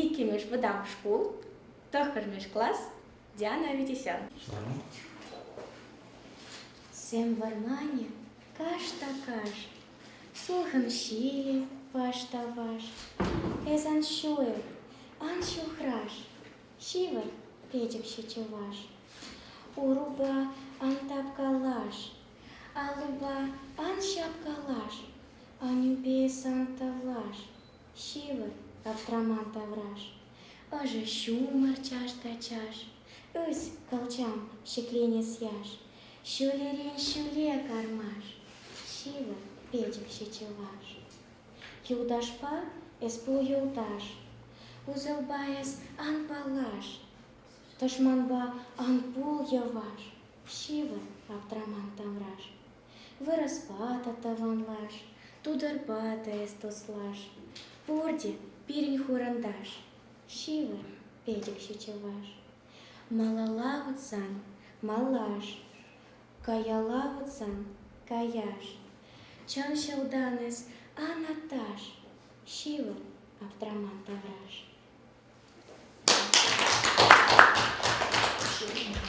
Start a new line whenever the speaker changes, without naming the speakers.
иккӗмӗш вӑтам шкул, тӑххӑрмӗш класс, Диана Витисян. Сем вӑрманӗ каш та каш, Сулхӑн ҫилӗ ваш та ваш. Эс ан ҫуйӑр, ан ҫухраш, Ҫывӑр, печӗкҫӗ чӑваш. Урупа ан тапкалаш, Аллупа ан ҫапкалаш, Анӳпе сан тавлаш. Ҫывӑр, аптраман тавраш, ӑшӑ ҫумӑр чаш та чаш, ӳс, кӑлчам, ҫӗкленес яш, ҫӳлерен ҫӳле кармаш, ҫывӑр, печӗкҫӗ чӑваш. Юлташпа эс пул юлташ, усӑлпа эс ан паллаш, тӑшманпа ан пул йӑваш, ҫывӑр, аптраман тавраш. Вырӑспа та тӑванлаш, тутӑрпа та эс туслаш, Пурте пирӗн хурӑнташ, ҫывӑр, пӗчӗкҫӗ чӑваш. Малалла утсан малаш, каялла утсан каяш, Чӑн ҫӑлтан эс, Анаташ, ҫывӑр аптраман тавраш.